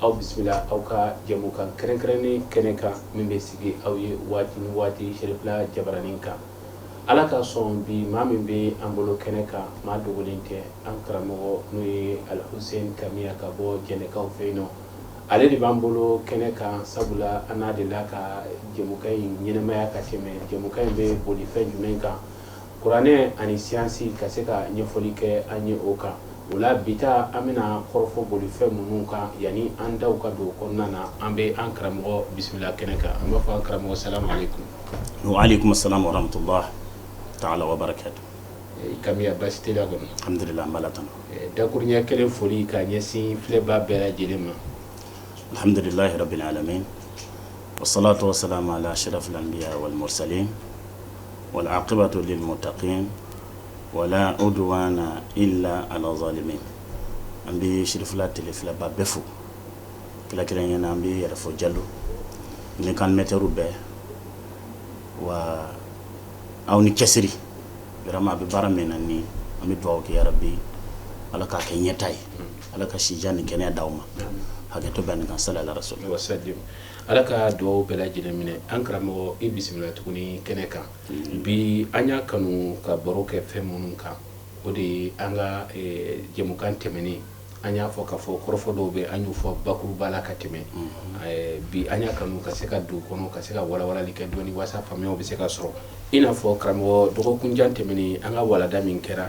aw bisimila aw ka jɛmukan kɛrɛnkɛrɛnnen kɛnɛ kan min bɛ sigi aw ye waati ni waati sɛrifila jabaranin kan ala ka sɔn bi maa min bɛ an bolo kɛnɛ kan maa dogolen tɛ an karamɔgɔ n'o ye alhuseni kamiya ka bɔ jɛnɛkaw fɛ yen nɔ ale de b'an bolo kɛnɛ kan sabula an n'a delila ka jɛmukan in ɲɛnamaya ka tɛmɛ jɛmukan in bɛ boli fɛn jumɛn kan Kuranɛ ani siyansi ka se ka ɲɛfɔli kɛ an ye o kan o la bi ta an bɛna kɔrɔfɔ boli fɛn minnu kan yanni an daw ka don kɔnɔna na an bɛ an karamɔgɔ bisimila kɛnɛ kan an b'a fɔ an karamɔgɔ salamu aleyikumu wa aleyikumu salamu wa rahamatulahi taala wa barakatuhu kamiya basi tɛ la kɔnɔ alihamdulila an b'a la tan dakurunɲɛ kelen foli ka ɲɛsin filɛbaa bɛɛ lajɛlen ma alihamdulilayi rabili alamina wa salatu wa salamu ala asirafili anbiyayi wali murusalina wali akibatu lilimutakina wa la uduwana ila ala zalimina an bɛ sɛrifila tele filɛbaa bɛɛ fo kelen kelen na an b'i yɛrɛ fo jalo n'i ka mɛtiriw bɛɛ wa aw ni cɛsiri yɔrɔ a bɛ baara min na ani an bɛ dugawu kɛ bɛɛ ye ala k'a kɛ ɲɛtaa ye ala ka sijan ni kɛnɛya d'aw ma hakɛto bɛ nin kan sala ala rasuli Ala ka dugawu bɛɛ lajɛlen minɛ an karamɔgɔ i bisimila tuguni kɛnɛ kan bi an y'a kanu ka baro kɛ fɛn minnu kan o de ye an ka jɛmukan tɛmɛnen an y'a fɔ k'a fɔ kɔrɔfɔ dɔw bɛ an y'u fɔ bakuruba la ka tɛmɛ bi an y'a kanu ka se ka don kɔnɔ ka se ka walawalali kɛ dɔɔnin walasa faamuya bɛ se ka sɔrɔ i n'a fɔ karamɔgɔ dɔgɔkunjan tɛmɛnen an ka walanda min kɛra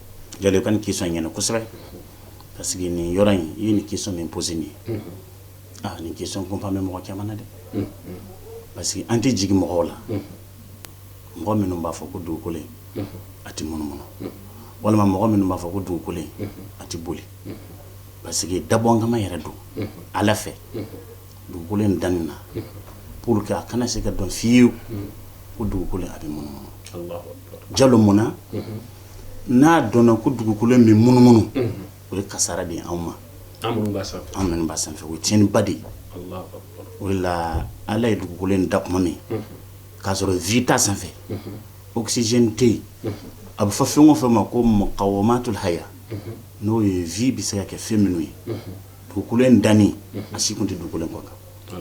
jalo i ka nin question in ɲɛna kosɛbɛ parce que nin yɔrɔ in i ye nin question min posé nin ye aa nin question kunpan bɛ mɔgɔ caman na dɛ parce que an tɛ jigin mɔgɔw la mɔgɔ minnu b'a fɔ ko dugukolo a tɛ munumunu walima mɔgɔ minnu b'a fɔ ko dugukolo a tɛ boli parce que dabɔ kama yɛrɛ don ala fɛ dugukolo in danni na pour que a kana se ka dɔn fiyewu ko dugukolo a bɛ munumunu jalo mun n'a dɔnna ko dugukolo bɛ munumunu o ye kasara de anw ma an b'a sanfɛ o ye tiɲɛniba de ye o la ala ye dugukolo in da tuma min k'a sɔrɔ vie t'a sanfɛ oxygène tɛ yen a bɛ fɔ fɛn o fɛn ma ko mukawimatul haya n'o ye vie bɛ se ka kɛ fɛn minnu ye dugukolo in danni a si tun tɛ dugukolo kan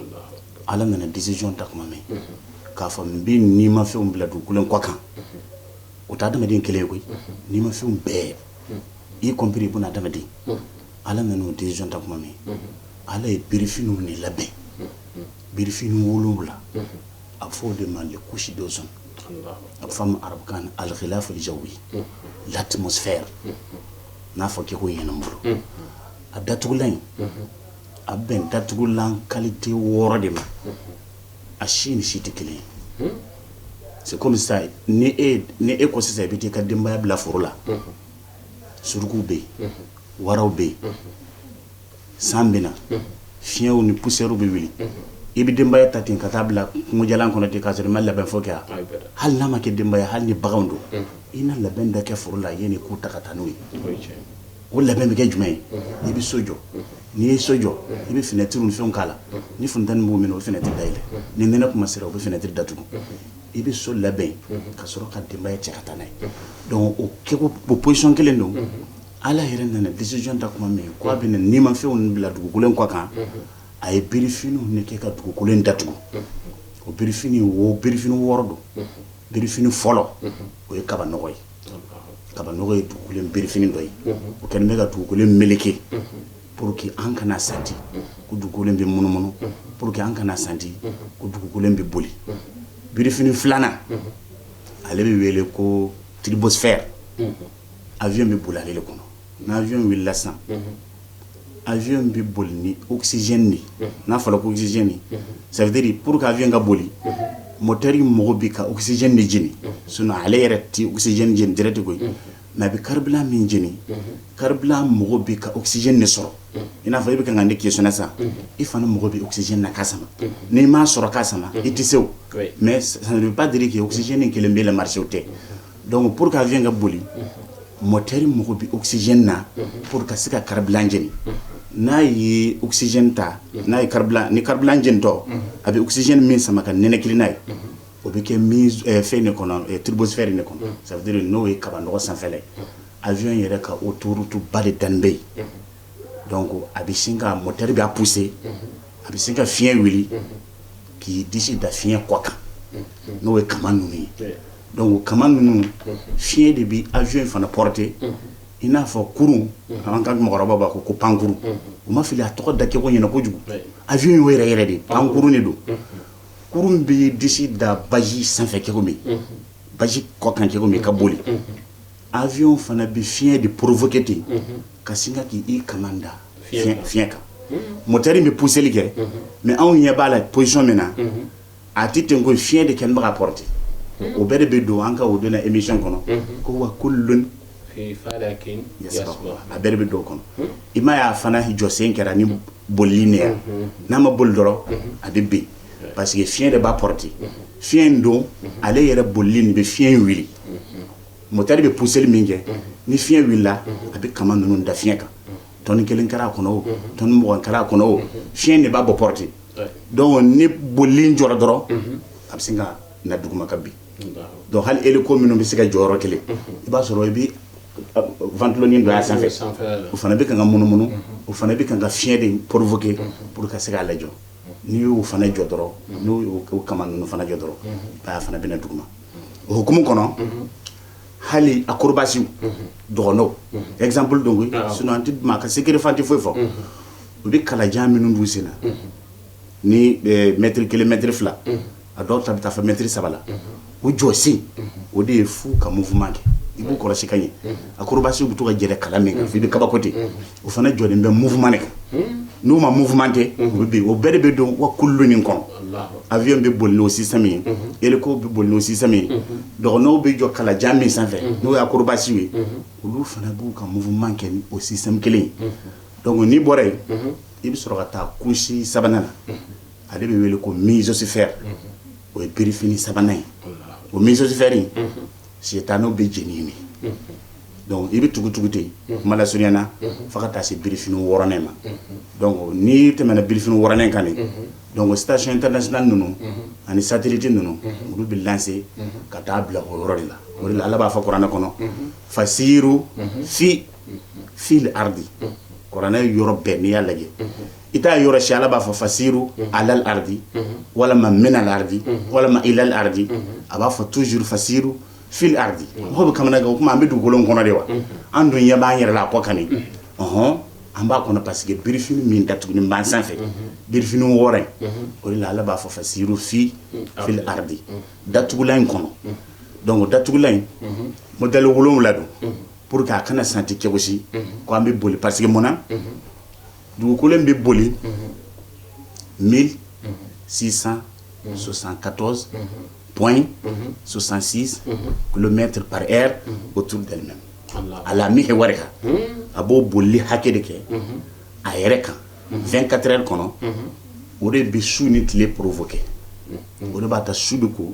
ala nana décision ta tuma min k'a fɔ n bɛ nimafɛn bila dugukolo kan o tɛ adamaden kelen ye koyi nimafɛnw bɛɛ i compris buna adamaden ala nana o décision ta kuma min ala ye birifiniw ne labɛn birifini wolonwula a bɛ fɔ o de ma les couches d'ozone a bɛ f'a ma arabukan na al-ghilaf al-jawi l'atmosphère n'a fɔ k'i k'o ɲɛnabɔ a datugulan in a bɛn datugulan qualité wɔɔrɔ de ma a si ni si tɛ kelen ye c'est comme ça ni e ko sisan i bɛ taa i ka denbaya bila foro la surukuw bɛ yen waraw bɛ yen san bɛ na fiɲɛw ni poussièrew bɛ wuli i bɛ denbaya ta ten ka taa bila kungo jalan kɔnɔ ten k'a sɔrɔ i ma labɛn fɔlɔ kɛ hali n'a ma kɛ denbaya hali ni baganw don i na labɛn dɔ kɛ foro la yanni i k'u ta ka taa n'o ye o labɛn bɛ kɛ jumɛn ye i bɛ so jɔ N'i ye so jɔ i bɛ finɛtiri ni fɛnw k'a la ni funteni b'o minɛ o bɛ finɛtiri dayɛlɛ ni nɛnɛ kuma sera o bɛ finɛtiri datugu i bɛ so labɛn ka sɔrɔ ka denbaya cɛ ka taa n'a ye o kɛko position kelen don ala yɛrɛ nana décision ta kuma min k'a bɛ nimafɛnw bila dugukolo in kɔ kan a ye birifiniw ne kɛ ka dugukolo in datugu o birifiniw birifini wɔɔrɔ don birifini fɔlɔ o ye kabanɔgɔ ye kabanɔgɔ ye dugukolo in birifini dɔ ye o kɛlen bɛ ka dugukolo in meleke pour que an kana santi ko dugukolo in bɛ munumunu pour que an kana santi ko dugukolo in bɛ boli birifini filanan ale bɛ wele ko turbosphère avion bɛ boli ale de kɔnɔ n'avion wulila sisan a v bɛ boli ni osizc de n'a fɔra kosicc sɛbɛteri pur a v ka boli mɔteri mɔgɔw bɛ ka usicc de jeni s ale yɛrɛ tɛ usicc dɛrɛ de koyi mɛ a bɛ kari min jeni kari mɔgɔw bɛ ka usicc de sɔrɔ i n'a fɔ i bɛ ka na ni kis sa i fana mɔgɔ bɛ usicc na ka sama n'i m' sɔrɔ ka sama i tɛ se mɛ sanba de kɛ usicin kelen bɛ la mariso tɛ Donc pour que avion ka boli moteur mako bɛ oxygène na pour ka se ka carburant jeni n'a ye oxygène ta n'a ye carburant ni carburant jenitɔ a bɛ oxygène min sama ka ninakili n'a ye o bɛ kɛ fɛn de kɔnɔ turbosphère in de kɔnɔ ça veut dire n'o ye kabanɔgɔ sanfɛla ye avion yɛrɛ ka autoroute ba de danni bɛ yen donc a bɛ sin ka moteur b'a pousser a bɛ sin ka fiɲɛ wuli k'i disi da fiɲɛ kɔ kan n'o ye kaman ninnu ye donc kaman ninnu fiɲɛ de bɛ avion in fana porter i n'a fɔ kurun an ka mɔgɔkɔrɔbaw b'a fɔ ko pankurun u ma fili a tɔgɔ da cɛko ɲɛna kojugu avion in yɛrɛ yɛrɛ de pankurun de don kurun bɛ disi da baji sanfɛ cɛko min baji kɔ kan cɛko min ka boli Avion fana bɛ fiɲɛ de provoquer ten ka sin ka k'i i kaman da fiɲɛ kan moteur in bɛ pousser li kɛ mais anw ɲɛ b'a la position min na a tɛ ten koyi fiɲɛ de kɛlen bɛ k'a porter o bɛɛ de bɛ don an ka o don na émission kɔnɔ ko wa kullun fii falakin yasbahuun a bɛɛ de bɛ don o kɔnɔ i m'a ye a fana jɔsen kɛra ni bolili in de ye n'a ma boli dɔrɔn a bɛ bin parce que fiɲɛ de b'a porter fiɲɛ in don ale yɛrɛ bolili in de bɛ fiɲɛ in wuli. moteur bɛ pousser li min kɛ ni fiɲɛ wulila a bɛ kaman ninnu da fiɲɛ kan tonne kelen kɛra a kɔnɔ o tonne mugan kɛra a kɔnɔ o fiɲɛ in de b'a bɔ porter donc ni bolili in jɔra dɔrɔn a bɛ se ka na duguma ka bin donc hali hélico minnu bɛ se ka jɔ yɔrɔ kelen i b'a sɔrɔ i bɛ ventilo nin dɔ y'a sanfɛ o fana bɛ ka ka munumunu o fana bɛ ka ka fiɲɛ de provoquer pour ka se k'a lajɔ n'i y'o fana jɔ dɔrɔn n'o y'o kaman ninnu fana jɔ dɔrɔn a fana bɛna na duguma o hukumu kɔnɔ hali acrobatiew dɔgɔnɔw exemple don koyi sinon an tɛ maa ka secret fan tɛ foyi fɔ u bɛ kalajan minnu don u sen na ni mètre kelen mètre fila a dɔw ta bɛ taa fo mètre saba la u jɔsen o de ye f'u ka mouvement kɛ i b'u kɔlɔsi ka ɲɛ acrobatiew bɛ to ka yɛlɛn kala min kan i bɛ kabako ten o fana jɔlen bɛ muma de n'u ma munma tɛ o bɛɛ de bɛ don wa kulu min kɔnɔ a bɛ bɛ boli o si ye e ko bɛ boli o si ye dɔgɔn' bɛ jɔ kalajan min sanfɛ n'o y' kobasi ye olu fana b'u ka munma kɛ o si kelen dɔnkuc n'i bɔra yen i bɛ sɔrɔ ka taa kusi sabanan na a de bɛ wele ko mizsi fɛ o ye bif sabanan ye o misosifɛ sitanɛw bɛ jeni yen donc i bɛ tugu tugu ten kuma lasurunya na fo ka taa se birifini wɔɔrɔnan in ma donc n'i tɛmɛna birifini wɔɔrɔnan in kan donc station internationale ninnu ani satellite ninnu olu bɛ lancer ka taa bila o yɔrɔ de la o de la ala b'a fɔ kuranɛ kɔnɔ fasiiru fi fil ardi kuranɛ yɔrɔ bɛɛ n'i y'a lajɛ i t'a yɔrɔ si ala b'a fɔ fasiiru alal ardi walima minal ardi walima ilal ardi a b'a fɔ toujours fasiiru fil ardi mɔgɔ bɛ kamanagan o tuma an bɛ dugukolo kɔnɔ de wa an dun ɲɛ b'an yɛrɛ la a kɔ kan ɔɔn an b'a kɔnɔ parce que birifini min datuguni b'an sanfɛ birifini wɔɔrɔ o de la ala b'a fɔ fasiiru fi fil ardi datugulan in kɔnɔ donc datugulan in modèle wolowula don pour que a kana sentir cogo si k'an bɛ boli parce que mun na dugukolo bɛ boli mi sisan sososan katɔ pɔn sososansi kulomɛtɛ pare o tu dɛmɛ a la min kɛ wari kan a b'o boli hakɛ de kɛ a yɛrɛ kan fɛn katɛ kɔnɔ o de bɛ su ni tile porofo kɛ o de b'a ta su de ko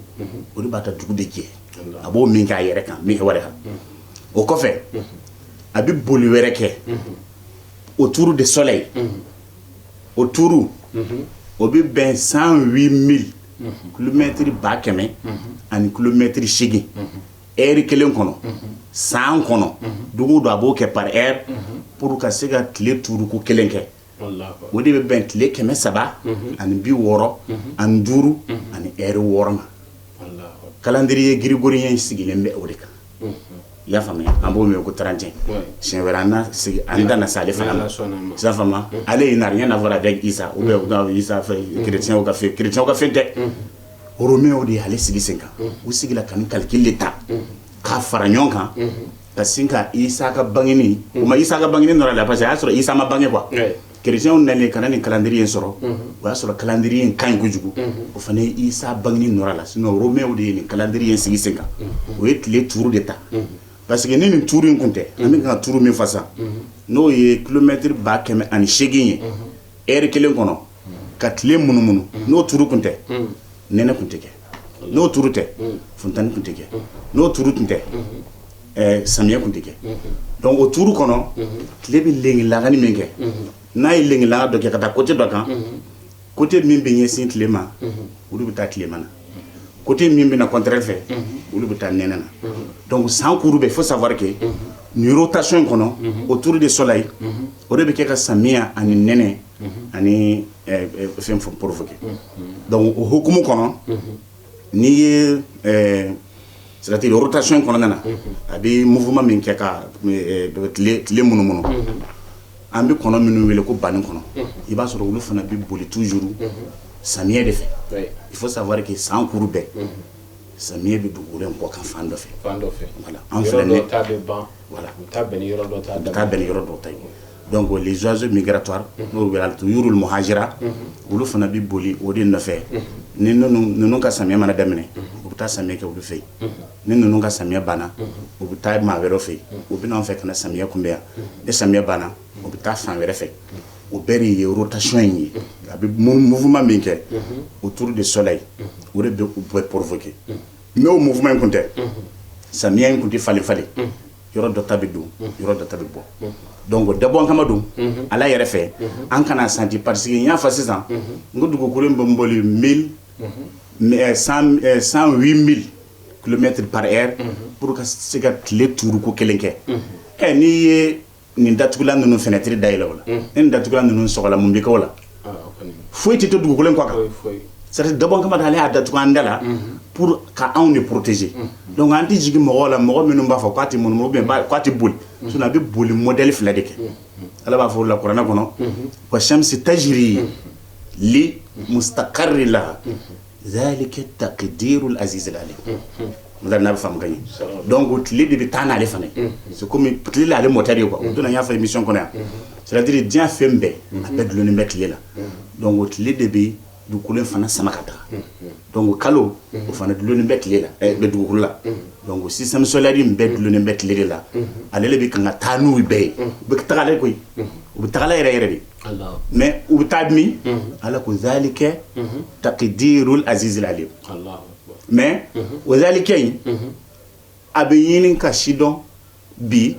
o de b'a ta dugu de jɛ a b'o min kɛ a yɛrɛ kan min wɛrɛ kan o kɔfɛ a bɛ boli wɛrɛ kɛ autour du soleil o tuuru o bɛ bɛn cent huit mille kilomètres ba kɛmɛ ani kilomètres seegin heure kelen kɔnɔ san kɔnɔ dugu don a b'o kɛ par heure pour ka se ka tile tuuruko kelen kɛ o de bɛ bɛn tile kɛmɛ saba ani bi wɔɔrɔ ani duuru ani heure wɔɔrɔ ma calendrier grégorien in sigilen bɛ o de kan i y'a faamuya an b'o mɛn ko trente et un siɲɛ wɛrɛ an da na se ale fana ma i y'a faamuya ale ye n'a rien à voir avec isa ou bien isa fɛ kerecɛnw ka fɛn tɛ romainw de ye ale sigi sen kan u sigira ka nin calcul de ta k'a fara ɲɔgɔn kan ka sin ka isa ka bangeni u ma isa ka bangeni nɔr'a la parce que y'a sɔrɔ isa ma bange quoi Kerecɛnw nalen ka na nin calendrier in sɔrɔ unhun o y'a sɔrɔ calendrier in kaɲi kojugu unhun o fana ye Isa bangeni nɔr'a la sinon romainw de ye nin calendrier in sigi senkan unhun o ye tile tuuru de ta unhun parce que ni nin tuuru in kun tɛ unhun an bɛ ka tuuru min fɔ sisan unhun n'o ye kilomɛtiri ba kɛmɛ ani seegin ye unhun heure kelen kɔnɔ ka tile munumunu unhun n'o tuuru kun tɛ unhun nɛnɛ kun tɛ kɛ n'o tuuru tɛ funteni kun tɛ kɛ n'o tuuru tun tɛ samiyɛ kun tɛ kɛ donc o tuuru kɔnɔ tile bɛ lenki lagani min kɛ n'a ye lenki laga dɔ kɛ ka taa côté dɔ kan côté min bɛ ɲɛsin tile ma olu bɛ taa tilema na côté min bɛ na contraire fɛ olu bɛ taa nɛnɛ na donc san kuru bɛɛ faut savoir que nin rotation in kɔnɔ autour du soleil o de bɛ kɛ ka samiya ani nɛnɛ ani fɛn fɔ provoquer donc o hukumu kɔnɔ n'i ye c'est-à-dire rotation in kɔnɔna na a bɛ mouvement min kɛ ka tile munumunu an bɛ kɔnɔ minnu wele ko banikɔnɔ i b'a sɔrɔ olu fana bɛ boli toujours samiyɛ de fɛ il faut savoir que san kuru bɛɛ samiyɛ bɛ dugukolo kɔ kan fan dɔ fɛ an fɛ bɛn yɔrɔ dɔ ta Donc les oiseaux migratoires n'o bɛ wele tuyurul muhajira olu fana bɛ boli o de nɔfɛ ni ninnu ka samiyɛ mana daminɛ u bɛ taa samiyɛ kɛ olu fɛ yen ni ninnu ka samiyɛ banna u bɛ taa maa wɛrɛw fɛ yen u bɛ n'an fɛ ka na samiyɛ kunbɛn yan ni samiyɛ banna u bɛ taa fan wɛrɛ fɛ o bɛɛ de ye rotation in ye a bɛ mouvement min kɛ autour du soleil o de bɛ u bɛɛ provoquer n'o mouvement in kun tɛ samiya in kun tɛ falen falen yɔrɔ dɔ ta bɛ don yɔrɔ dɔ ta bɛ bɔ donc dabɔ kama don ala yɛrɛ fɛ an kana santi parce que n y'a fɔ sisan n ko dugukolo in bɛ n boli mille mais cent euh, cent huit mille kilomètres par heure pour ka se ka tile tuuru ko kelen kɛ ɛ n'i ye nin datugulan ninnu fenêtre dayɛlɛ o la ni nin datugulan ninnu sɔgɔla mun bɛ kɛ o la foyi tɛ to dugukolon kɔ sari dɔbɔ kamama ale y'a da tugu an da la k' anw de porotezse dɔnku an tɛ jigin jigin mɔgɔ la mɔgɔ minnu b'a fɔ k'a tɛ mun tɛ boli a bɛ boli mɔdli fila de kɛ ala b'a fɔ la kuranɛ kɔnɔ ko sɛmisi tɛ zri ye le muta kari de la zalika taqdirul aziz al alim n n'a bɛ faamu ka ɲɛ donc o tile de bɛ taa n'ale fana ye c'est comme tile de y'ale moteur ye quoi o don na n y'a fɔ émission kɔnɔ yan c'est à dire diɲɛ fɛn bɛɛ a bɛɛ dulonnen bɛ tile la donc o tile de bɛ dugukolo in fana sama ka taa donc kalo o fana dulonnen bɛ tile la eh, bɛ dugukolo la donc système solaire in bɛɛ dulonnen bɛ tile de la ale de bɛ kan ka taa n'u bɛɛ ye u bɛ taga la koyi u bɛ taga la yɛrɛ yɛrɛ dɛ mais u bɛ taa min ala ko zalika taqdirul azizil alim mais o zalika in a bɛ ɲini ka sidɔn bi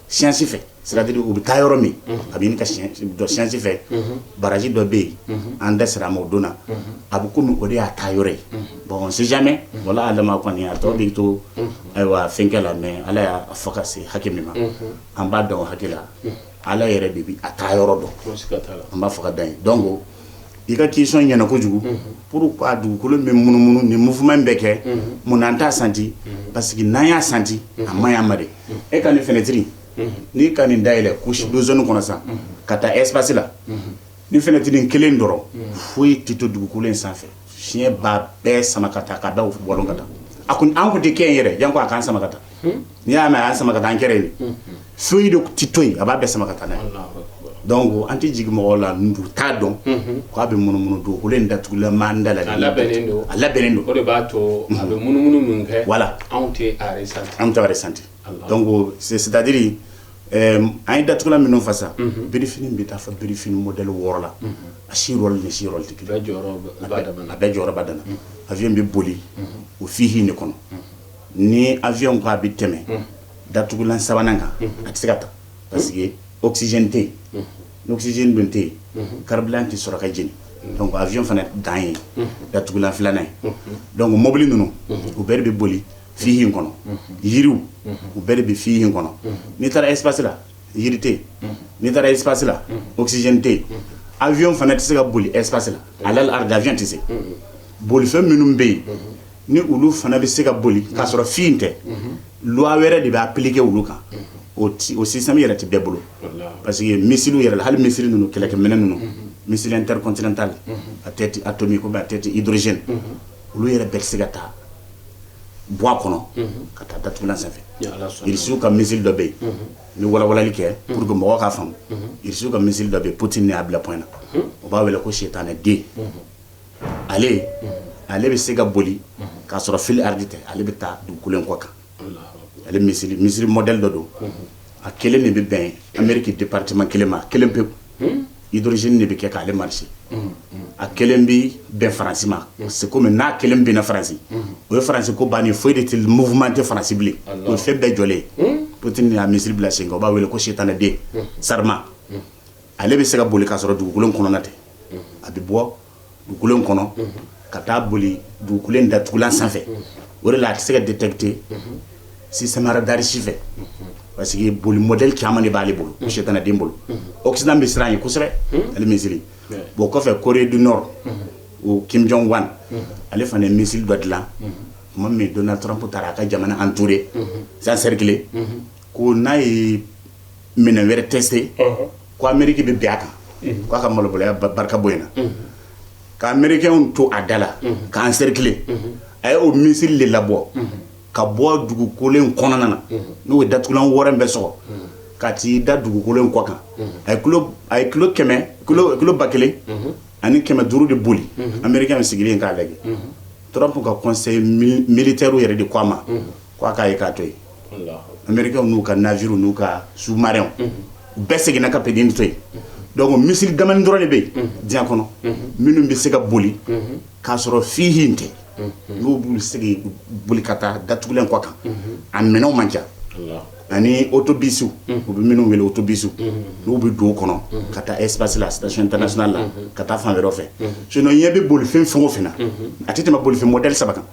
science fɛ c'est-à-dire u bɛ taa yɔrɔ min a bɛ ɲini ka dɔn science fɛ baraji dɔ bɛ yen an da sera a ma o don na a bɛ kɔmi o de y'a taa yɔrɔ ye bon on sait jamais wallahu alam kɔni a tɔ bɛ to ayiwa fɛnkɛ la mais ala y'a fɔ ka se hakɛ min ma an b'a dɔn o hakɛ la Ala yɛrɛ de bɛ a taa yɔrɔ dɔn an b'a fɔ ka dan yen donc i ka question ɲɛna kojugu pourquoi dugukolo bɛ munumunu ni mouvement in bɛ kɛ mun na an t'a santi parce que n'an y'a santi a man ɲi an ma dɛ e ka nin fenêtre n'i ka nin dayɛlɛ couche d'ozone kɔnɔ sa ka taa espace la ni fenêtre kelen dɔrɔn foyi tɛ to dugukolo in sanfɛ Fiɲɛ b'a bɛɛ sama ka taa ka da bɔ ka taa an kun tɛ kɛ yen yɛrɛ janko a k'an sama ka taa n'i y'a mɛn a y'an sama ka taa an kɛra yen foyi de tɛ to yen a b'a bɛɛ sama ka taa n'a ye donc an tɛ jigin mɔgɔw la n'u t'a dɔn k' a bɛ munumunu dugukolo in datugula an da la a labɛnnen don a labɛnnen don o de b'a to a bɛ munumunu min kɛ voilà anw tɛ an t'a ressentir c'est-à-dire an ye datugulan minnu fɔ sa birifini bɛ taa fo birifini modèle wɔɔrɔ la a si rôle ni si rôle tɛ kelen a bɛɛ jɔyɔrɔ b'a dan na avion bɛ boli o fila de kɔnɔ ni avion ko a bɛ tɛmɛ datugulan sabanan kan a tɛ se ka taa parce que oxygène tɛ yen ni oxygène dun tɛ yen carburant tɛ sɔrɔ ka jeni donc avion fana dan ye datugulan filanan ye donc mɔbili ninnu u bɛɛ bɛ boli fi in kɔnɔ yiriw u bɛɛ de bɛ fi in kɔnɔ n'i taara espace la yiri tɛ n'i taara espace la oxygène tɛ avion fana tɛ se ka boli espace la avion tɛ se bolifɛn minnu bɛ yen ni olu fana bɛ se ka boli k'a sɔrɔ fi tɛ loi wɛrɛ de b'appliquer olu kan o o système yɛrɛ tɛ bɛɛ bolo parce que missile yɛrɛ hali missile ninnu kɛlɛkɛminɛ ninnu missile intercontinental à tête atomique ou à tête hydrogène olu yɛrɛ bɛɛ tɛ se ka taa bɔ o kɔnɔ ka taa datugulan sanfɛ irisiw ka missile dɔ bɛ yen ni walawalali kɛ pour que mɔgɔ ka faamu irisiw ka missile dɔ bɛ yen poutine y'a bila point na o b'a wele ko sitanɛ den ale ale bɛ se ka boli k'a sɔrɔ fil ardi tɛ ale bɛ taa dugukolo in kɔ kan ale missile missile modèle dɔ don a kelen de bɛ bɛn ameriki département kelen ma kelen pewu hydrogène de bɛ kɛ k'ale marcher a kelen bɛ bɛn faransi ma c'est comme n'a kelen bɛnna faransi o ye faransi ko bannen foyi de tɛ mouvement tɛ faransi bilen o fɛn bɛɛ jɔlen poutine y'a missile bila sen kan u b'a wele ko sitanɛ den sarmat ale bɛ se ka boli k'a sɔrɔ dugukolo in kɔnɔna tɛ a bɛ bɔ dugukolo in kɔnɔ ka taa boli dugukolo in datugulan sanfɛ o de la a tɛ se ka détecter système radar si fɛ parce que boli modèle caman de b'ale bolo sitanɛ den bolo occident bɛ siran ye kosɛbɛ ale missile bon kɔfɛ corée du nord o kim jong un ale fana ye missile dɔ dilan tuma min donald trump taara a ka jamana entouré encerclé ko n'a ye minɛn wɛrɛ tester ko ameriki bɛ bin a kan k'a ka malobaliya barika bonyana ka amerikɛnw to a da la k'a encercler a ye o missile de labɔ ka bɔ dugukolo in kɔnɔna na n'o ye datugulan wɔɔrɔ bɛɛ sɔgɔ ka t'i da dugukolo in kɔ kan a a ye kilo ba kelen ani kɛmɛ duuru de boli amerikɛn sigilen k'a lajɛ trump ka conseil militaire yɛrɛ de ko a ma k' a k'a ye k'a to yen amerikɛnw n'u ka navire n'u ka sous-marinw u bɛɛ seginna ka petitnin to yen donc missile damanin dɔrɔn de bɛ yen diɲɛ kɔnɔ minnu bɛ se ka boli k'a sɔrɔ fi in tɛ n'u b'u sigi boli ka taa datugulan kɔ kan a minɛnw man ca ani autobus u bɛ minnu wele autobus n'u bɛ don kɔnɔ ka taa espace la station internationale la ka taa fan wɛrɛ fɛ sinon ɲɛ bɛ bolifɛn fɛn o fɛn na a tɛ tɛmɛ bolifɛn modèle saba kan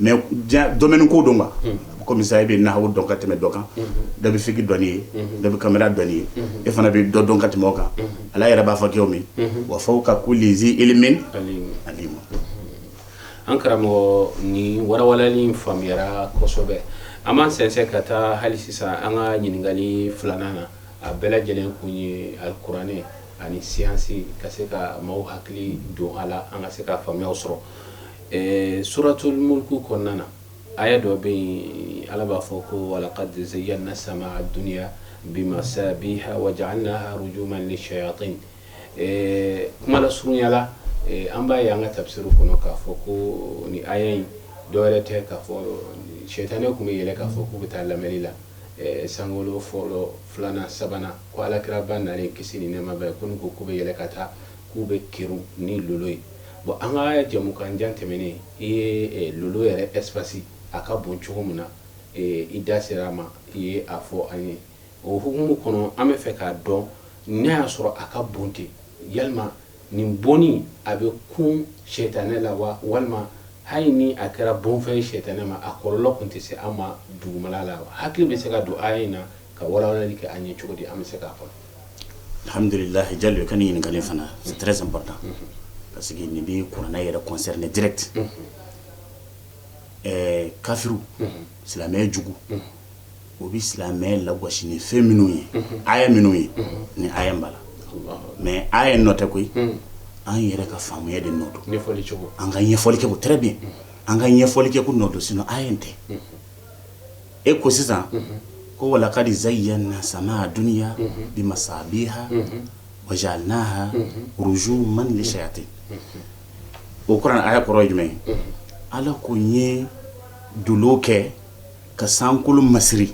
mais domaine ko don kɔmi i bɛ nahawu dɔn ka tɛmɛ dɔ kan dɔ bɛ fiki dɔn n'i ye dɔ bɛ caméra dɔn n'i ye e fana bɛ dɔ dɔn ka tɛmɛ kan ala yɛrɛ b'a fɔ kɛ min wa fawqa kulli zi ilmin alim an karamɔgɔ ni walawalali in faamuyara kosɛbɛ an b'an sɛnsɛn ka taa hali sisan an ka ɲininkakali filanan na a bɛɛ lajɛlen kun ye alikuranɛ ani siyansi ka se ka maaw hakili don a la an ka se ka faamuya sɔrɔ Ɛɛ suratul mulku kɔnɔna na aya dɔ bɛ yen ala b'a fɔ ko walaqad zayyana samaa dunya bimasabiha wa ja'alnaha rujuman lishayatin ɛɛ kuma lasurunya la an b'a ye an ka tafsiru kɔnɔ k'a fɔ ko nin aya in dɔwɛrɛ tɛ k'a fɔ shɛyitanɛ tun bɛ yɛlɛ k'a fɔ k'u bɛ taa lamɛnni la sankolo fɔlɔ filanan sabanan ko alakiraba nalen kisi ni nɛɛma b'a ye ko ko k'u bɛ yɛlɛ ka taa K'u bɛ kerun ni lolo ye bon an ka jɛmukan jan tɛmɛnen i ye lolo yɛrɛ espace a ka bon cogo min na i da sera a ma i ye a fɔ an ye o hukumu kɔnɔ an bɛ fɛ k'a dɔn n'a y'a sɔrɔ a ka bon ten yala nin bonni a bɛ kun sɛyitanɛ la wa walima hali ni a kɛra bonfɛn sɛyitanɛ ma a kɔlɔlɔ tun tɛ se an ma dugumala la hakili bɛ se ka don aya in na ka walawalali kɛ an ye cogo di an bɛ se k'a fɔ alhamudulilayi jalo ka nin ɲininkali fana c'est très important parce que nin bɛ kuranɛ yɛrɛ concerner direct ɛɛ kafiru silamɛ juguw bɛ silamɛ lagosi ni fɛn minnu ye aya minnu ye nin aya b'a la mais aya nɔ tɛ koyi an yɛrɛ ka faamuya de nɔ don an ka ɲɛfɔli kɛko très bien an ka ɲɛfɔli kɛko nɔ don sinon aya nɔ tɛ e ko sisan ko walaqad zayyana samaa dunya bimasabiha wa ja'alnaha rujuman lishayatin o kuranɛ aya kɔrɔ jumɛn ye ala ko n ye dolo kɛ ka sankolo masiri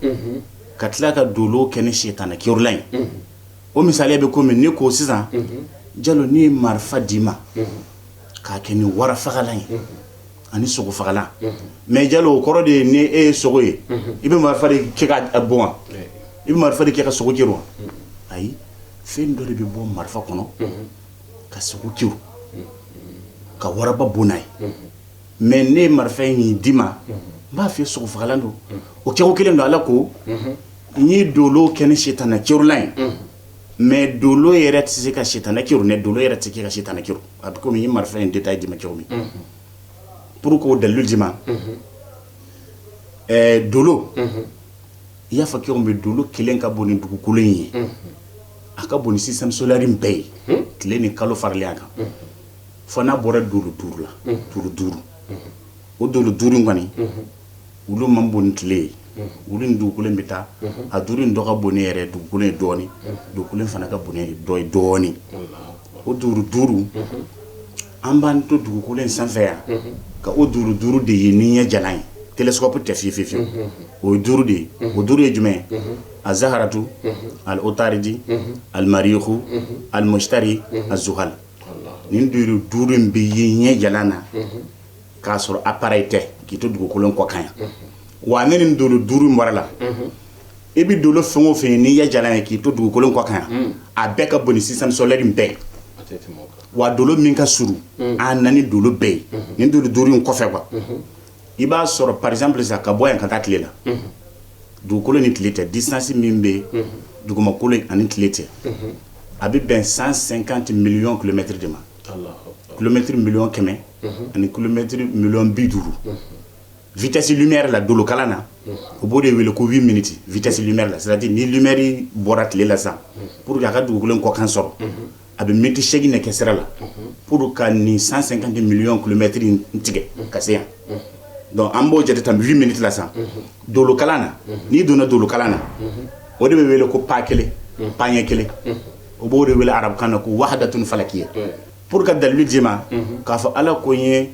ka tila ka dolo kɛ nin sitanɛ kerunlan ye o misaliya bɛ komi ne ko sisan jalo n' ye marifa d'i ma k'a kɛ nin warafagalan ye ani sogo fagalan mais jalo o kɔrɔ de ye ni e ye sogo ye i bɛ marifa de kɛ k'a bon wa i bɛ marifa de kɛ ka sogo kerun wa ayi fɛn dɔ de bɛ bɔ marifa kɔnɔ ka sogo kerun ka waraba bon n'a ye mais ne ye marifa in min d'i ma n b'a fɔ sogo fagalan don o kɛko kelen don ala ko n ye dolo kɛ nin sitanɛ kerunlan ye mais dolo yɛrɛ tɛ se ka sitanɛ kerun dɛ dolo yɛrɛ tɛ se ka sitanɛ kerun a bɛ komi marifa in tɛ taa jamana cogo min parce que o dalilu jumɛn ɛɛ dolo i y'a fɔ cogo min dolo kelen ka bon ni dugukolo in ye a ka bon ni système solaire bɛɛ ye tile ni kalo faralen a kan fo n'a bɔra dolo duuru la dolo duuru o dolo duuru in kɔni olu man bon ni tile ye olu ni dugukolo bɛ taa a duuru in dɔ ka bon ni yɛrɛ dugukolo ye dɔɔnin dugukolo fana ka bon ni dɔ ye dɔɔnin o dolo duuru an b'an to dugukolo in sanfɛ yan ka o dolo duuru de ye ni ɲɛ jalan ye télescope tɛ fi fiyewu o ye duuru de ye o duuru ye jumɛn ye azaharatu aliotaridi alimariku alimusitari azuhali nin dolo duuru in bɛ ye ɲɛ jalan na k'a sɔrɔ appareil tɛ k'i to dugukolo in kɔ kan yan wa ni nin dolo duuru in bɔra a la i bɛ dolo fɛn o fɛ ye n'i ɲɛ jalan ye k'i to dugukolo in kɔ kan yan a bɛɛ ka bon ni système solaire in bɛɛ wa dolo min ka surun an na ni dolo bɛɛ ye nin dolo duuru in kɔfɛ wa i b'a sɔrɔ par exemple sa ka bɔ yan ka taa tile la dugukolo ni tile tɛ distance min bɛ dugumakolo ani tile tɛ a bɛ bɛn cent cinquante millions kilomètres de ma kilomɛtiri miliyɔn kɛmɛ ani kilomɛtiri miliyɔn bi duuru vitesse lumière la dolokalan na u b'o de wele ko huit minutes vitesse lumière la c'est-à-dire ni lumière bɔra tile la sa pour que a ka dugukolo in kɔkan sɔrɔ a bɛ miniti seegin ne kɛ sira la pour ka nin cent cinquante millions kilomètres tigɛ ka se yan donc an b'o jate tan huit minutes la sa dolokalan na n'i donna dolokalan na o de bɛ wele ko pa kelen paɲɛ kelen o b'o de wele arabukan na ko wahadatun falakiya Pour ka dalilu d'i ma k'a fɔ ala ko n ye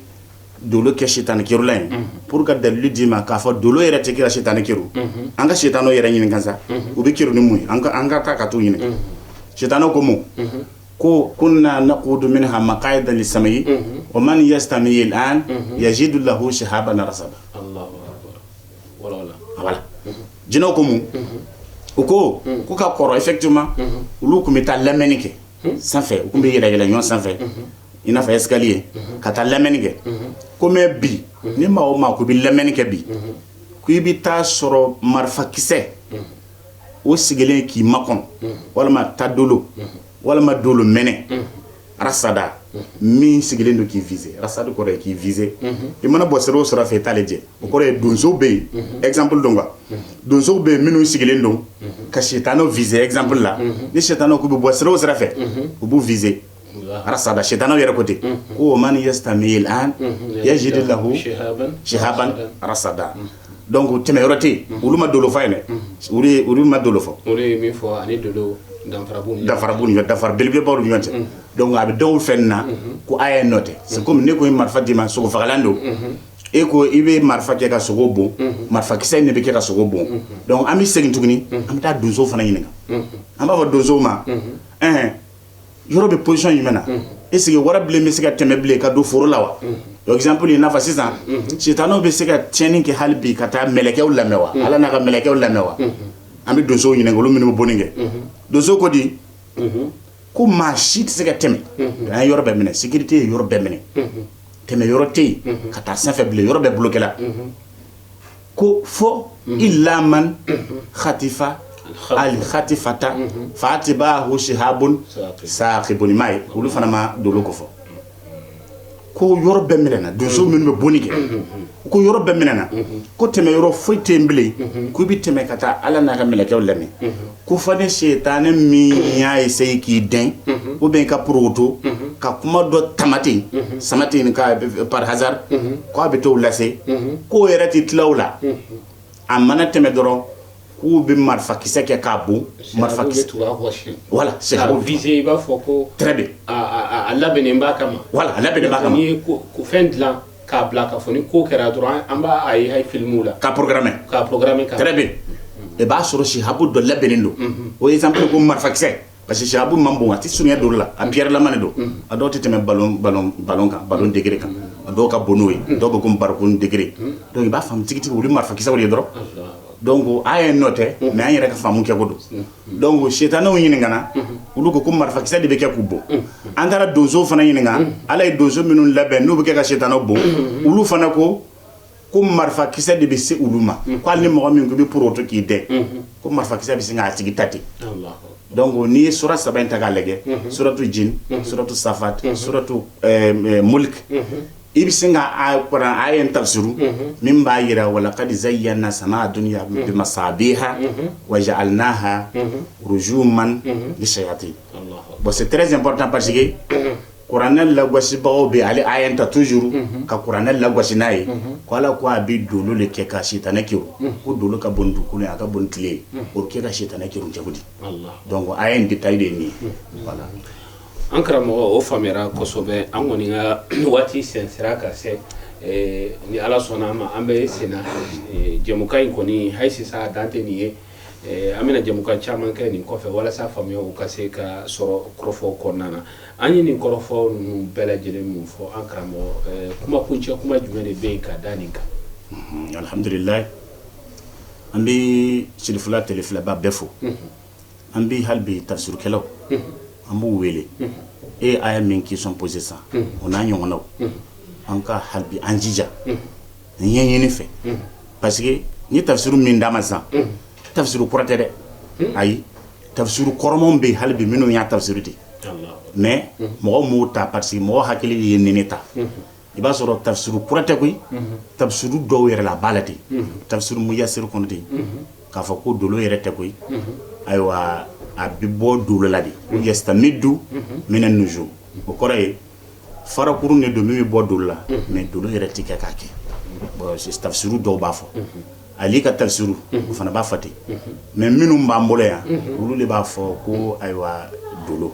dolo kɛ sitanɛ kɛrunlan ye pour que ka dalilu d'i ma k'a fɔ dolo yɛrɛ tɛ kira sitanɛ kɛrun. An ka sitanɛw yɛrɛ ɲininka sa u bi kɛrun ni mun ye an ka taa ka t'u ɲini sitanɛw ko mun ko kunna naqudu minha maqaida lisami wa man yastami al'an yajidu lahu shihaban rasada jinɛw ko mun u ko ko ka kɔrɔ effectivement olu tun bɛ taa lamɛnni kɛ sanfɛ u tun bɛ yɛlɛnyɛlɛn ɲɔgɔn sanfɛ i n'a fɔ escalier ka taa lamɛnni kɛ ko mais bi ni maa o maa ko i bɛ lamɛnni kɛ bi ko i bɛ t'a sɔrɔ marifakisɛ o sigilen k'i makɔnɔ walima ta dolo walima dolo mɛnɛ rasada min sigilen don k'i viser rasada kɔrɔ ye k'i viser i mana bɔ sira o sira fɛ i t'ale jɛ o kɔrɔ ye donsow bɛ yen exemple don quoi donsow bɛ yen minnu sigilen don ka sitanɛw viser exemple la ni sitanɛw k'u bɛ bɔ sira o sira fɛ u b'u viser rasada sitanɛw yɛrɛ ko ten ko man yastami al'an yajid lahu shihaban rasada donc ko tɛmɛ yɔrɔ tɛ yen olu ma dolo fɔ ye dɛ olu ma dolo fɔ olu ye min fɔ ani dolo danfara b'u ni ɲɔgɔn danfara belebeleba b'u ni ɲɔgɔn cɛ donc a bɛ dɔw fɛ na ko a ye nɔ tɛ c'est comme ne ko ye marifa d'i ma sogo fagalan don e ko i bɛ marifa kɛ ka sogo bon marifakisɛ in de bɛ kɛ ka sogo bon donc an bɛ segin tuguni an bɛ taa donsow fana ɲininka an b'a fɔ donsow ma ɛɛ yɔrɔ bɛ position jumɛn na est-ce que wara bilen bɛ se ka tɛmɛ bilen ka don foro la wa exemple i n'a fɔ sisan sitanɛw bɛ se ka tiɲɛni kɛ hali bi ka taa mɛlɛkɛw lamɛn wa ala n'a ka mɛlɛkɛw lamɛn wa an bɛ donsow ɲininka olu minnu bɛ bonni kɛ donsow ko di ko maa si tɛ se ka tɛmɛ an ye yɔrɔ bɛɛ minɛ sécurité ye yɔrɔ bɛɛ minɛ tɛmɛ yɔrɔ tɛ yen ka taa sanfɛ bilen yɔrɔ bɛɛ bloquéla ko fo illa man khatifa al khatifata faatiba'ahu shihabun saqibun mais olu fana ma dolo ko fɔ ko yɔrɔ bɛɛ minɛna donsow minnu bɛ bonni kɛ U ko yɔrɔ bɛɛ minɛna ko tɛmɛ yɔrɔ foyi tɛ yen bilen k'u bɛ tɛmɛ ka taa ala n'a ka mɛlɛkɛw lamɛn ko fo ni setanɛ min y'a essayer k'i dɛn ou bien ka porokoto ka kuma dɔ tamati sama tɛ nin par hasard k'a bɛ t'o lase k'o yɛrɛ tɛ tila o la a mana tɛmɛ dɔrɔn k'u bɛ marifakisɛ kɛ k'a bon marifa voilà c'est ça i b'a fɔ a labɛnnen voilà a labɛnnen fɛn dilan k'a bila k'a fɔ ni ko kɛra dɔrɔn an b'a ye filimu la k'a programmer k'a programmer très bien i b'a sɔrɔ shihabu dɔ labɛnnen don o ye exemple ko marifakisɛ parce que shihabu man bon a tɛ sun don la a pierrelama don a dɔw tɛ tɛmɛ ballon degré kan a dɔw ka bon n'o ye dɔw bɛ comme barikon degré donc i b'a faamu tigitigi olu marifakisɛw ye dɔrɔn donc a ye noter mais an yɛrɛ ka faamu kɛ ko don donc ko setanɛw ɲininkana olu ko ko marifakisɛ de bɛ kɛ k'u bon an taara donsow fana ɲininka ala ye donsow minnu labɛn n'u bɛ kɛ ka setanɛw bon olu fana ko ko marifakisɛ de bɛ se olu ma ko hali ni mɔgɔ min tun bɛ porokoto k'i dɛn ko marifakisɛ bɛ se k'a tigi ta ten donc n'i ye sura saba in ta k'a lajɛ suratu jinni suratu safati suratu muliki i bɛ sin ka kuranɛ aya in tafsiru min b'a jira wa laqad zayyanna sama dunya bi masabiha wa ja'alnaha rujuman lishayatin bon c'est très important parce que kuranɛ lagosibagaw bɛ ale aya in ta toujours ka kuranɛ lagosi n'a ye ko ala ko a bɛ dolo de kɛ ka sitanɛ kɛrun ko dolo ka bon dugukolo a ka bon tile o kɛ ka sitanɛ kɛrun cogo di donc aya in détail de nin ye An karamɔgɔ o faamuyala kosɛbɛ an kɔni ka waati sen sera ka se ni ala sɔnna an ma an bɛ sen jɛmukan in kɔni hali sisan a dan tɛ nin ye an bɛna jɛmukan caman kɛ nin kɔfɛ walasa faamuya ka se ka sɔrɔ kɔrɔfɔ kɔnɔna na an ye nin kɔrɔfɔ ninnu bɛɛ lajɛlen min fɔ an karamɔgɔ kuma kuncɛ kuma jumɛn de bɛ yen ka da nin kan alhamdulilayi an bɛ Cherifla tele filɛbaa bɛɛ fo an bɛ halibi tafsirukɛlaw an b'u wele e aya min qui sont posés ça o n'a ɲɔgɔnw an ka halibi an jija ɲɛɲini fɛ parce que ni tafsiru min dama sa tafsiru kura tɛ dɛ ayi tafsiru kɔrɔmaw bɛ halibi minnu y'a tafsiru ten mais mɔgɔ m'o ta parce que mɔgɔ hakili ye nin de ta i b'a sɔrɔ tafsiru kura tɛ koyi, unhun, tafsiru dɔw yɛrɛ la a b'a la ten, unhun, tafsiru muyasɛri kɔnɔ ten, unhun, k'a fɔ ko dolo yɛrɛ tɛ koyi, unhun, ayiwa a bɛ bɔ dolo la de, unhun, yasitamidu mina nujum o kɔrɔ ye farakurun de don min bɛ bɔ dolo la, unhun, mais dolo yɛrɛ tɛ kɛ k'a kɛ bon tafsiru dɔw b'a fɔ, unhun ale ka tafsiru o fana b'a fɔ ten mais minnu b'an bolo yan olu de b'a fɔ ko ayiwa dolo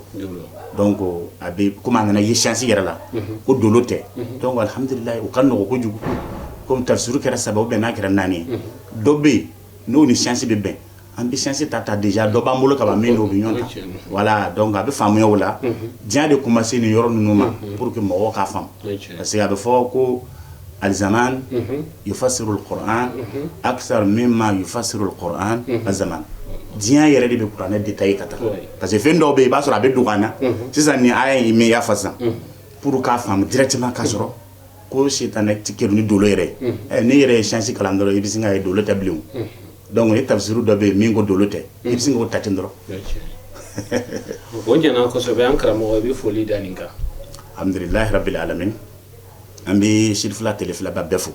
donc a bɛ komi an kana ye siyansi yɛrɛ la ko dolo tɛ donc alihamdulila o ka nɔgɔ kojugu komi tafsiru kɛra saba bɛn n'a kɛra naani dɔ bɛ yen n'o ni siyansi bɛ bɛn an bɛ siyansi ta ta déjà dɔ b'an bolo ka min n'o bɛ ɲɔgɔn ta voilà donc a bɛ faamuya o la diɲɛ de tun ma se nin yɔrɔ ninnu ma pour que mɔgɔ ka faamu parce que a bɛ fɔ ko alzaman yufasiru kuran akisari mimma yufasiru kuran alzaman diɲɛ yɛrɛ de bɛ kuranɛ détaillé ka taa parce que fɛn dɔw bɛ yen i b'a sɔrɔ a bɛ don na sisan ni a ye' mɛn ya fa sisan pour k'a faamu directement ka sɔrɔ ko sitanɛ tɛ kerun ni dolo yɛrɛ n'i yɛrɛ ye siyansi kalan dɔrɔn i bɛ se k'a ye dolo tɛ bilen donc e tafisiri dɔ bɛ yen min ko dolo tɛ i bɛ se k'o ta ten dɔrɔn o ɲɛna kosɛbɛ an karamɔgɔ bɛ foli da nin kan alihamdulilahi rabili alamin an bɛ Cherifla tele filɛbaa bɛɛ fo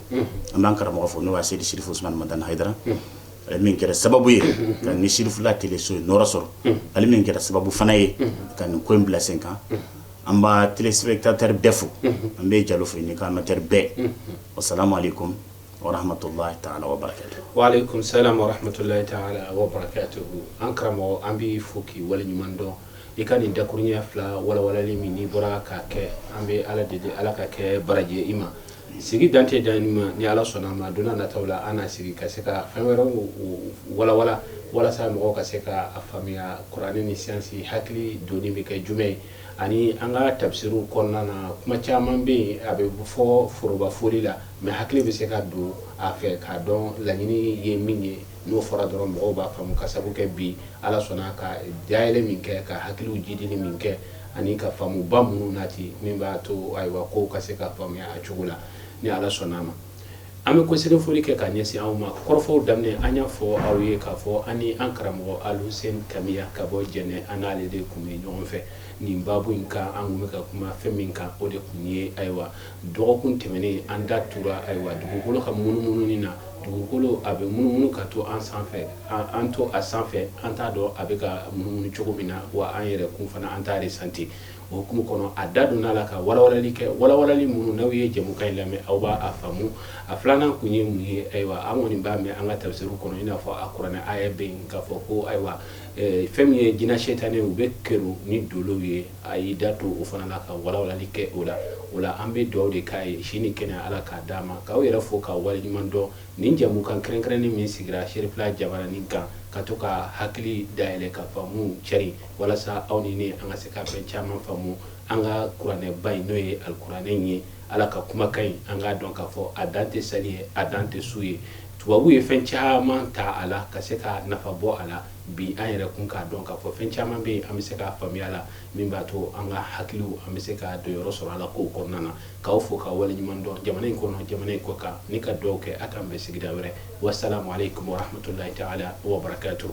an b'an karamɔgɔ fo n'o ye asɛyid serifu Usuman Madan Hayidara min kɛra sababu ye ka nin Cherifla tele so in nɔɔrɔ sɔrɔ ani min kɛra sababu fana ye ka nin ko in bila sen kan an bba t sɛbɛn ta tari bɛɛ fo an bɛ jalo fɔ ɲini k'an ka teri bɛɛ o salama kotola samatɔla to an karamɔgɔ an bɛ fɔ k'i wale ɲuman dɔn i ka nin dakurunɲɛ fila wawali min bɔra ka kɛ an bɛ ala de ala ka kɛ barajɛ i ma Sigi dan tɛ dan nin ma ni ala sɔnna a ma don nataw la an na sigi ka se ka fɛn wɛrɛw walawala walasa mɔgɔw ka se k'a faamuya kuranɛ ni siyansi hakili don bɛ kɛ jumɛn ye ani an ka tafsiri kɔnɔna na kuma caman bɛ yen a bɛ fɔ forooroba fɔli la mais hakili bɛ se ka don a fɛ k'a dɔn laɲini ye min ye n'o fɔra dɔrɔn mɔgɔw b'a faamu ka sababu kɛ bi ala sɔnna ka dayɛlɛ min kɛ ka hakiliw jidili min kɛ ani ka faamuba minnu nati min b'a to ayiwa ko ka se k'a faamuya a cogo la ni ala sɔnna a ma an bɛ kɔsegin foli kɛ ka ɲɛsin aw ma kɔrɔfɔw daminɛ an y'a fɔ aw ye k'a fɔ ani an karamɔgɔ Alusɛni kamiya ka bɔ jɛnɛ an n'ale de tun bɛ ɲɔgɔn fɛ nin baabu in kan an tun bɛ ka kuma fɛn min kan o de tun ye ayiwa Dɔgɔkun tɛmɛnen an da tora ayiwa dugukolo ka munumunu na dugukolo a bɛ munumunu ka to an sanfɛ an to a sanfɛ an t'a dɔn a bɛ ka munumunu cogo min na wa an yɛrɛ kun fana an t'a resanti o hukumu kɔnɔ a da donna a la ka walawalali kɛ walawalali minnu n'aw ye jamukan in lamɛn aw b'a faamu a filanan tun ye mun ye ayiwa an kɔni b'a mɛn an ka tafsiru kɔnɔ i n'a fɔ alikuranɛ aya bɛ yen k'a fɔ ko ayiwa fɛn min ye jinɛ setanɛ u bɛ kɛrun ni dolo ye a y'i da to o fana la ka walawalali kɛ o la o la an bɛ dugawu de kɛ a ye si ni kɛnɛ ala k'a d'a ma k'aw yɛrɛ fo ka waleɲuman dɔn nin jamukan kɛrɛnkɛrɛnnen min sigira serifila jabaranin kan ka to ka hakili dayɛlɛn ka faamu cari walasa aw ni ne an ka se ka fɛn caman faamu an ka kuranɛba in n'o ye alikuranɛ ye ala ka kumakan in an k'a dɔn k'a fɔ a dan tɛ seli ye a dan tɛ sun ye tubabuw ye fɛn caman ta a la ka se ka nafa bɔ a la bi an yɛrɛ kun k'a dɔn k'a fɔ fɛn caman bɛ yen an bɛ se k'a faamuya la min b'a to an ka hakiliw an bɛ se ka donyɔrɔ sɔrɔ ala kow kɔnɔna na k'aw fo ka waleɲuman dɔn jamana in kɔnɔ jamana in kɔkan ni ka dugawu kɛ a k'an bɛn sigida wɛrɛ wasalamu aleykum warahmatulahi taala wabarakatuhu